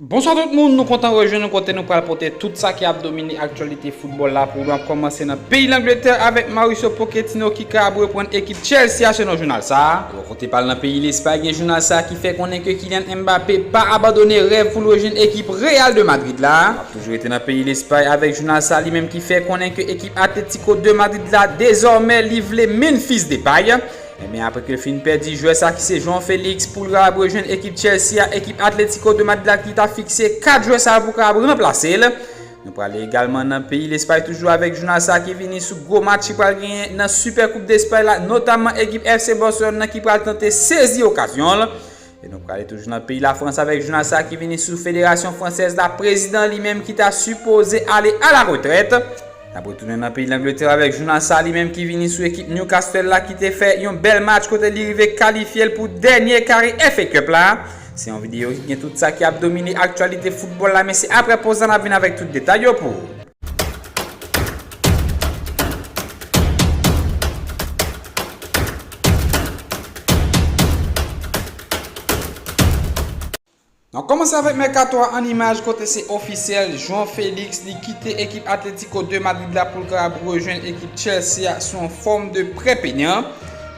Bonswa tout moun, nou kontan rejwenn nou kote nou pral pote tout sa ki ap domine aktyalite foutbòl la pou ou nou ap kòmanse nan peyi Langletè avèk Mauricio Pochettino ki ka ap reprann ekip Chelsea a selon jounal sa a. Bò kote pa l nan peyi Lespay gen jounal sa a ki fè konnen ke Kylian Mbappé pa abandone rèv pou l rejwenn ekip Real de Madrid la. N ap toujou rete nan peyi Lespay avèk jounal sa a li menm ki fè konnen ke ekip Atletico de Madrid la dezòmè li vle Memphis Depay. Enben apre ke fin pèdi jwè sa ki se João Felix poul ra ap rejwenn ekip Chelsea a ekip Atletico de Madlad ki ta fikse 4 jwè sa pou ka ap ranplase l. Nou prale egalman nan peyi Lespay toujou avèk jounal sa ki vini sou gwo match ki pral genyen nan Super Coupe d'Espagne la notamman ekip FC Barcelone nan ki pral tante sezi okazyon l E nou prale toujou nan peyi Lafrans avèk jounal sa ki vini sou Federasyon Fransèz la, prezidan li menm ki ta sipoze ale a la retrèt. N ap retounen nan peyi Langletè avèk jounal sa li menm ki vini sou ekip Newcastle la ki te fè yon bèl match kote li rive kalifye l pou dènye kare FA Cup la. Se yon videyo ki gen tout sa ki ap domine aktyalite foutbòl la men se aprè poz la n ap vin avèk tout detay yo pou ou. Nan kòmanse avèk mèkato a an imaj kote se ofisyèl, João Félix li kite ekip Atlético de Madrid la pou l kapab rejwenn ekip Chelsea a sou yon fòm de prè peyan.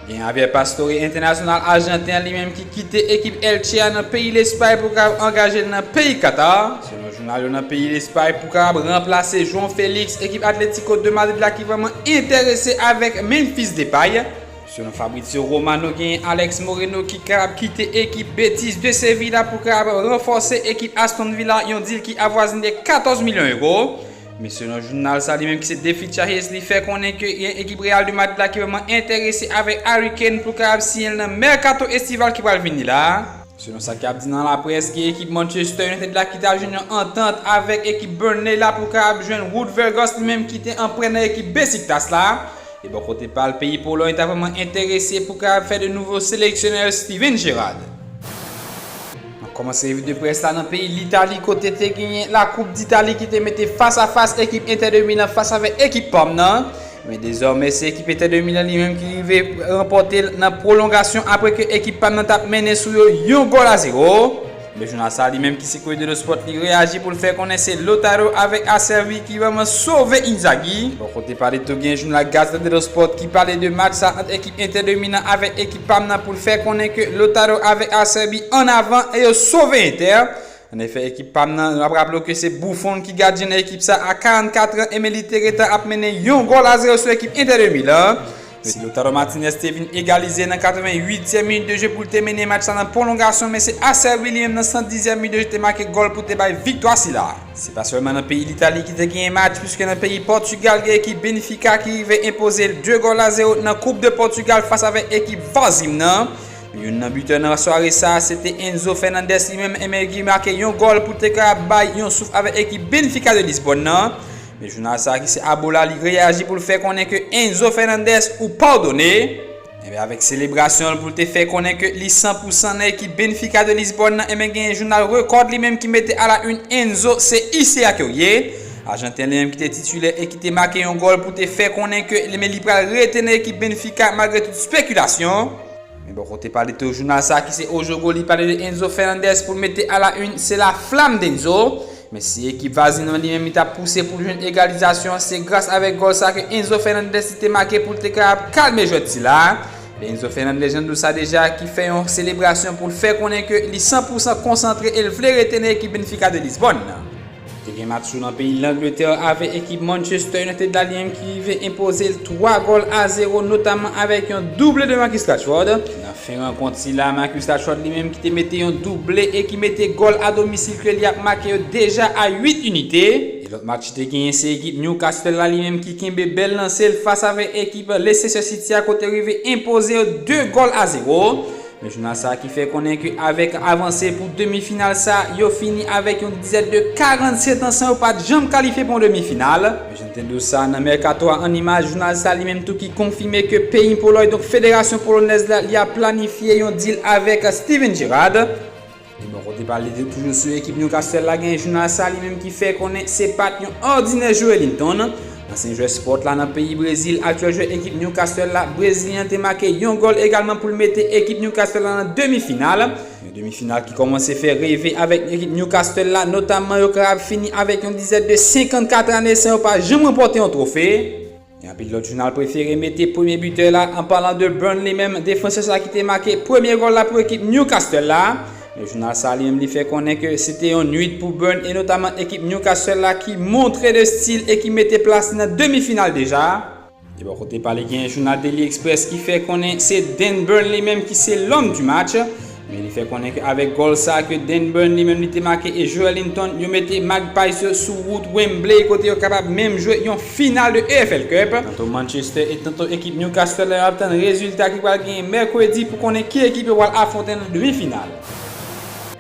Gen Javier Pastore, entènasyonal ajanten an li menm ki kite ekip Elche a nan peyi Lespay pou kapab angaje l nan peyi Katar, selon jounal yo nan peyi Lespay, pou kapab ranplase João Felix, ekip Atlético de Madrid la ki vrèman enterese avèk Memphis Depay. Selon Fabrizio Romano genyen Alex Moreno ki kapab kite ekip Betis de Séville la pou kapab ranfòse ekip Aston Villa, yon dil ki avwazine 14 milyon euro. Men selon jounal sa li menm ki se The Fitcha Hayes li fè konnen ke gen ekip Real de Madrid la ki vrèman enterese avèk Harry Kane pou l kapab siyen l nan mèkato estival ki pral vini la a. Selon sa ki ap di nan laprès gen ekip Manchester United la ki ta jwenn yon antant avèk ekip Burnley la pou kapab jwenn Wout Weghorst li menm ki te an prè nan ekip Besiktas la. E bò kote pa l peyi Polòy ta vrèman enterese pou kapab fè de nouvo seleksyonè l Steven Gerrard. Nan kòmansman revi de près la nan peyi Litali kote te genyen la koup d'Italie ki te mete fas a fas ekip Inter de Milan fas avèk ekip Parme nan, men dezòmè se ekip Inter de Milan li menm ki rive ranpòte l nan pwolongasyon apre ke ekip Parme nan tap mennen sou yo yon gòl a zewo. Men jounal sa li menm ki se Corriere dello Sport li reyaji pou l fè konnen se Lautaro avèk Acerbi ki vrèman sove Inzaghi. Bò kote pa li tou genyen jounal Gazzetta dello Sport ki pale de match sa ant ekip Inter de Milan avèk ekip. Pam nan pou l fè konnen ke Lautaro avèk Acerbi an avan e yo sove Inter. An efè ekip pam nan, n ap raple w ke se Buffon ki gadyen nan ekip sa a 44 an e men li te gentan ap mennen yon gòl a zero sou ekip Inter de Milan. Si Lautaro Martinez te vin egalize nan 88 tièm minit de jeu pou l te mennen match la nan pwolongasyon men se Acerbi li menm nan 110 zièm minit de jeu te make gòl pou te bay viktwa sila a. Se pa sèlman nan peyi Litali ki te genyen match puiske nan peyi Pòtugal gen ekip Benfica ki rive enpoze l 2 gòl a 0 nan Coupe de Portugal fas avèk ekip Varzim nan. Youn nan bitè nan sware sa a se te Enzo Fernandez li menm emen ki make yon gòl pou te ka bay yon souf avèk ekip Benfica de Lisbòn nan. Men jounal sa a ki se Abola li reyaji pou l fè konnen ke Enzo Fernandez ou padone. Enben avèk selebrasyon l pou l te fè konnen ke li san pou san nan ekip Benfica de Lisbòn nan enben genyen jounal Record li menm ki mete a la une Enzo se ICA ke w ye Ajanten li menm ki te titilè e ki te make yon gòl pou te fè konnen ke enben li pral rete nan ekip Benfica malgre tout spekilasyon. Men bò kote pa li tou jounal sa ki se O Jogo li pale de Enzo Fernandez pou l mete a la une se la flamme d'Enzo Men si ekip vazin an li menm li tap pouse poul jwenn egalizasyon an se gras avèk gòl sa ke Enzo Fernandez li te make poul te ka ap kalme jwèt sila a, men Enzo Fernandez jann do sa deja ki fè yon selebrasyon poul fè konnen ke li 100 pou 100 konsantre el vle rete nan ekip Benfica de Lisbonne nan. Te gen match tou nan peyi Langletè avè ekip Manchester United la li menm ki rive enpozel 3 gòl a 0 notaman avèk yon double de Marcus Rashford. Fen rankont sila, Marcus Rashford li menm ki te mete yon double e ki mete gòl a domisil klèb li ap make yo deja a 8 inite. E lòt match ki te genyen se ekip Newcastle la li menm ki kenbe bèl lanse l fas avèk ekip Leicester City a kote rive enpoze yo 2 gòl a 0. Men jounal sa ki fè konnen ke avèk avanse pou demi final sa yo fini avèk yon dizèt de 47 an san yo pat janm kalifye pou yon demi final. Jan te dous sa nan mèkato a an imaj jounal sa li menm tou ki konfime ke peyi Polòy donk federasyon polonèz la li ap planifye yon dil avèk Steven Gerrard. Li bò kote pa li toujou sou ekip Newcastle la gen jounal sa li menm ki fè konnen se pat yon òdinè jwe Linton, ansyen jwè Sport la nan peyi Brezil, aktyèl jwè ekip Newcastle la, brezilyen an te make yon gòl egalman pou l mete ekip Newcastle la nan demi final. Yon demi final ki kòmanse fè reve avèk ekip Newcastle la, notamman yo kapab fini avèk yon dizèt de 54 ane san yo pa janm ranpòte yon twofe. Yon anpil lòt jounal prefere mete premye bitè la an palan de Burnley menm, defansè sa ki te make premye gòl la pou ekip Newcastle la. Men jounal sa li menm li fè konnen ke se te yon nwit pou Burn e notaman ekip Newcastle la ki montre de stil e ki mete plas li nan demi final deja. Ebò kote pale genyen jounal Daily Express ki fè konnen se Dan Burn li menm ki se l'homme du match, men li fè konnen ke avèk gòl sa ke Dan Burn li menm li te make e Joelinton yo mete Magpies yo sou wout Wembley kote yo kapab menm jwe yon final de EFL Cup. Tanto Manchester et tanto ekip Newcastle la yo ap tann rezilta ki pral genyen mèkredi pou konnen ki ekip yo pral afwonte nan demi final.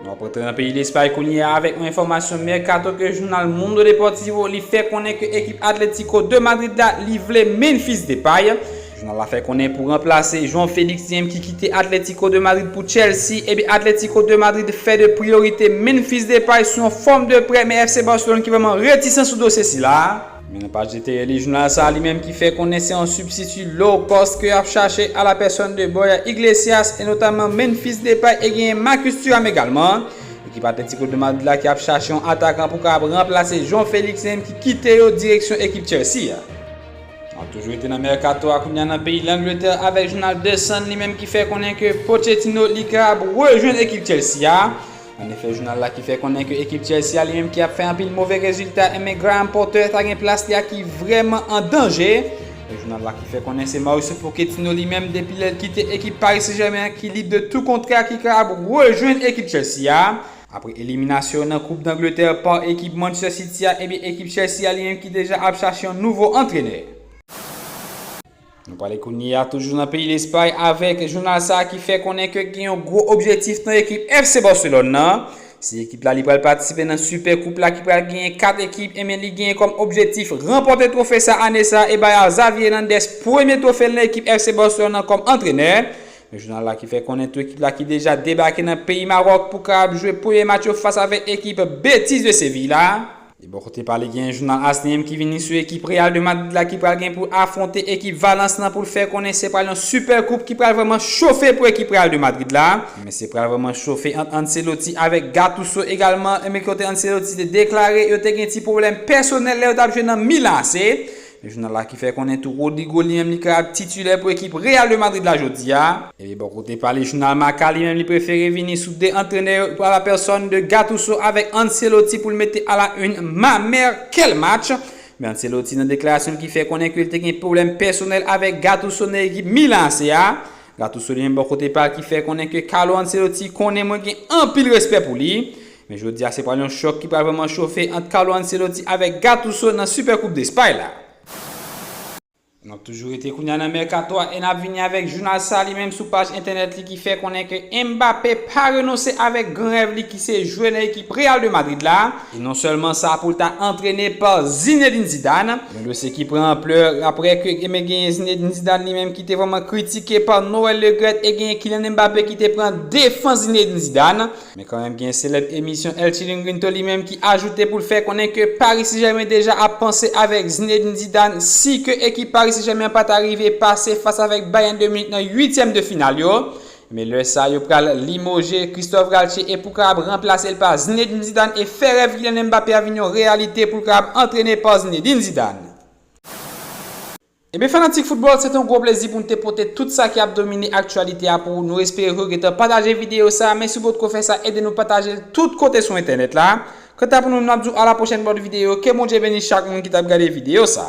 Nou ap antre nan peyi Lespay kounye a avèk yon enfòmasyon mèkato ke jounal Mundo Deportivo li fè konnen ke ekip Atletico de Madrid la li vle Memphis Depay, jounal la fè konnen pou ranplase João Felix Jim ki kite Atletico de Madrid pou Chelsea, ebyen Atletico de Madrid fè de priyorite Memphis Depay sou yon fòm de prè men FC Barcelone ki vrèman retisan sou dosye sila. Men nan paj eteryeli jounal sa li menm ki fè konnen se yon sibstiti low cost ke yap chache a la pèsòn de Boyer Iglesias e notamman Memphis Depay e genyen Marcus Thuram egalman. Ekip Atletico de Madrid la ki ap chache yon atakan pou kapab ranplase João Felix li menm ki kite yo direksyon ekip Chelsea a. Nap toujou rete nan mèkato a kounya nan peyi Langletè avèk jounal The Sun li menm ki fè konnen ke Pochettino li kapab rejwenn ekip Chelsea a. An efè jounal la ki fè konnen ke ekip Chelsea a li menm ki ap fè anpil move rezilta enben Graham Potter ta gen plas li a ki vrèman an danje. E jounal la ki fè konnen se Mauricio Pochettino li menm depi lè l kite ekip Paris Saint Germain an ki lib de tou kontra ki kapab rejwenn ekip Chelsea a. Apre eliminasyon yo nan koup Dangletè pa ekip Manchester City a enben ekip Chelsea a li menm ki deja ap chache yon nouvo antrenè. Nou pale kounye a toujou nan peyi Lespay avèk jounal sa ki fè konnen ke gen yon gwo objektif nan ekip FC Barcelone nan. Si ekip la li pral patisipe nan Super Coupe la ki pral genyen 4 ekip ebyen li genyen kòm objektif ranpòte twofe sa ane sa e bay a Xavi Hernandez premye twofe l nan ekip FC Barcelone nan kòm antrenè. Jounal la ki fè konnen tou ekip la ki deja debake nan peyi Maroc pou ka ap jwe premye match yo fas avèk ekip Betis de Séville la. De bò kote pa li gen jounal ASNY ki vini sou ekip Real de Madrid la ki pral gen pou afwonte ekip Valence lan pou l fè konnen se pral yon sipè koup ki pral vrèman chofe pou ekip Real de Madrid la, men se pral vrèman chofe ant Ancelotti avèk Gattuso egalman, men kote Ancelotti te deklare yo te gen ti pwoblèm pèsonèl lè yo t ap jwe nan Milan AC. Jounal la ki fè konnen tou Rodrygo li menm li ka titilè pou ekip Real de Madrid la jodi a. Epi bò kote pa li jounal Marca li menm li prefere vini sou 2 antrenè yo a la pèsòn de Gattuso avèk Ancelotti pou l mete a la une ma mère quel match! Men Ancelotti nan deklarasyon l ki fè konnen ke l te gen pwoblèm pèsonèl avèk Gattuso nan ekip Milan ac a. Gattuso li menm bò kote pa l ki fè konnen ke Carlo Ancelotti konnen mwen gen anpil respè pou li. Men jodi a se pral yon chòk ki pral vrèman chofe ant Carlo Ancelotti avèk Gattuso nan Super Coupe d'Espagne la. N ap toujou rete kounya nan mèkato a e n ap vini avèk jounal sa li menm sou paj entènèt li ki fè konnen ke Mbappé pa renonse avèk gran rèv li ki se jwe nan ekip Real de Madrid la e non sèlman sa pou l ta antrene pa Zinedine Zidane. Yon dosye ki pran anplè aprè ke e men genyen Zinedine Zidane li menm ki te vrèman kritike pa Noël Le Graët e genyen Kylian Mbappé ki te pran defans Zinedine Zidane. Men kanmenm gen selèb emisyon El Chiringuinto li menm ki ajoute pou l fè konnen ke Paris Saint-Germain deja ap panse avèk Zinedine Zidane si ke ekip Paris Saint-Germain an pa ta rive pase fas avèk Bayern de Munich nan uityèm de final yo. Men lè sa yo pral limoje Christophe Galtier e pou kapab ranplase l pa Zinedine Zidane e fè rèv Kylian Mbappé a vin yon reyalite pou l kapab antrene pa Zinedine Zidane. Ebyen fanatik football se te yon gwo plezi pou nou te pote tout sa ki ap domine aktyalite a pou ou, nou espere ke ou gentan pataje videyo sa, men si ou potko fè sa ede nou pataje l tout kote sou entènèt la, kanta pou nou nap di w a la pwochèn bòt videyo, ke Bondye beni chak moun ki tap gade videyo sa.